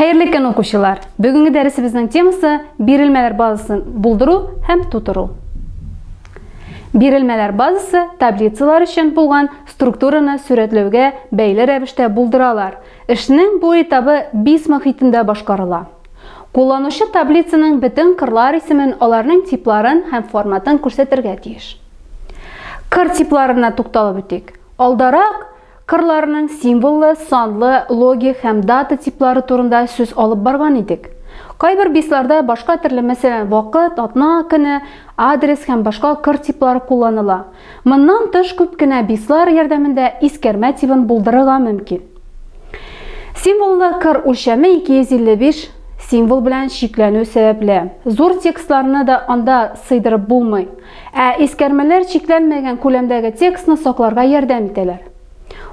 Хәерле көн укучылар! Бүгенге дәресебезнең темасы бирелмәләр базасын булдыру һәм тутыру. Бирелмәләр базасы таблицалар өчен булган структураны сурәтләүгә бәйле рәвештә булдыралар. Эшнең бу этабы бис мохитендә башкарыла. Кулланучы таблицаның бөтен кырлар исемен, аларның типларын һәм форматын күрсәтергә тиеш. Кыр типларына тукталып үтик. Алдарак Кырларның символлы, санлы, логик һәм дата типлары турында сүз алып барган идек. Кайбер бисларда башка төрле, мәсәлән, вакыт, атна, көне, адрес һәм башка кыр типлары кулланыла. Моннан тыш күп кенә бислар ярдәмендә искәрмә тибын булдырырга мөмкин. Символлы кыр үлчәме 255 символ белән чикләнү сәбәпле, зур текстларны да анда сыйдырып булмый. Ә искәрмәләр чикләнмәгән күләмдәге текстны сакларга ярдәм итәләр.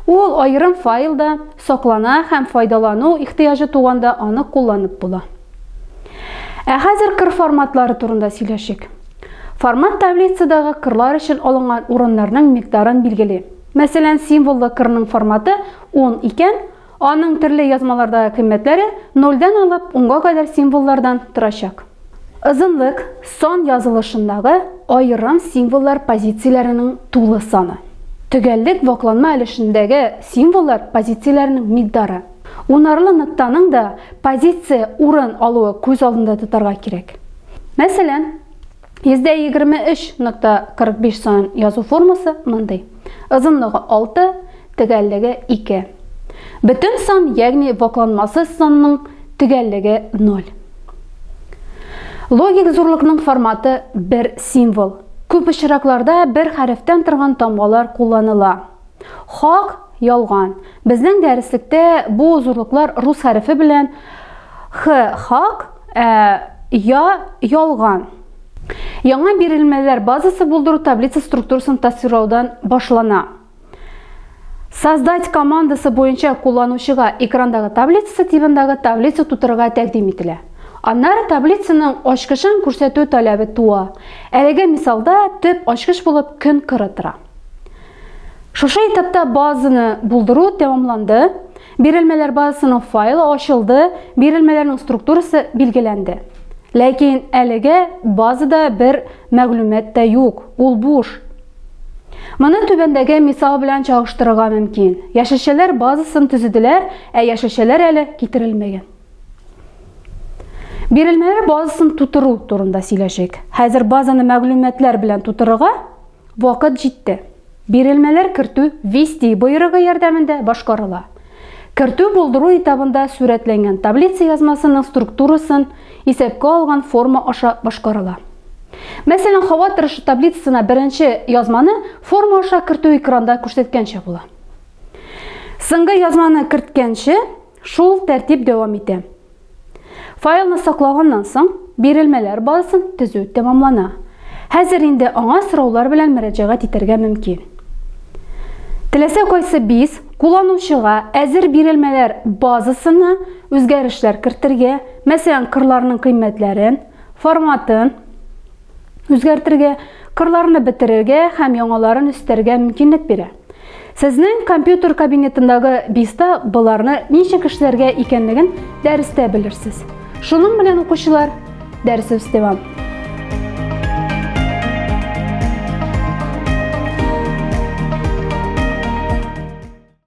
Ул аерым файлда саклана һәм файдалану ихтыяҗы туганда аны кулланып була. Ә хәзер кыр форматлары турында сөйләшик. Формат таблицадагы кырлар өчен алынган урыннарның микъдарын билгели. Мәсәлән, символлы кырның форматы 10 икән, Аның төрле язмалардагы кыйммәтләре нольдән алып унга кадәр символлардан торачак. Озынлык сан язылышындагы аерым символлар позицияләренең тулы саны. Төгәллек вакланма өлешендәге символлар позицияләренең микдары. Унарлы ноктаның да позиция урын алуы күз алдында тотарга кирәк. Мәсәлән, 123.45 сан язу формасы мондый. Озынлыгы 6, төгәллеге 2. Бөтен сан, ягъни вакланмасыз санның төгәллеге 0. Логик зурлыкның форматы бер символ. Күп очракларда бер хәрефтән торган тамгалар кулланыла. Хак, ялган. Безнең дәреслектә бу зурлыклар рус хәрефе белән х хак, ә, я ялган. Яңа бирелмәләр базасы булдыру таблица структурасын тасвирлаудан башлана. Создать командасы буенча кулланучыга экрандагы таблицасы тибендагы таблица тутырырга тәкъдим ителә. Аннары таблицаның ачкычын күрсәтү таләбе туа. Әлеге мисалда төп ачкыч булып көн кыры тора. Шушы этапта базаны булдыру тәмамланды, бирелмәләр базасының файлы ачылды, бирелмәләрнең структурасы билгеләнде. Ләкин әлегә базада бер мәгълүмат та юк, ул буш. Моны түбәндәге мисал белән чагыштырырга мөмкин. Яшелчәләр базасын төзеделәр, ә яшелчәләр әле китерелмәгән. Бирелмәләр базасын тутыру турында сөйләшик. Хәзер базаны мәгълүматлар белән тутырырга Вакыт җитте. Бирелмәләр кертү Вести боерыгы ярдәмендә башкарыла. Кертү булдыру этабында сурәтләнгән таблица язмасының структурасын исәпкә алган форма аша башкарыла. Мәсәлән, һава торышы таблицасына беренче язманы форма аша кертү экранда күрсәткәнчә була. Соңгы язманы керткәнче Шул тәртип дәвам итә. Файлны саклаганнан соң, бирелмәләр базасын төзү тәмамлана. Хәзер инде аңа сораулар белән мөрәҗәгать итәргә мөмкин. Теләсә кайсы биз кулланучыга әзер бирелмәләр базасына үзгәрешләр кертергә, мәсәлән, кырларның кыйммәтләрен, форматын, үзгәртергә, кырларны бетерергә һәм яңаларын өстәргә мөмкинлек бирә. Сезнең компьютер кабинетындагы биста боларны ничек эшләргә икәнлеген дәрестә белерсез. Шуның белән укучылар, дәресебез дәвам.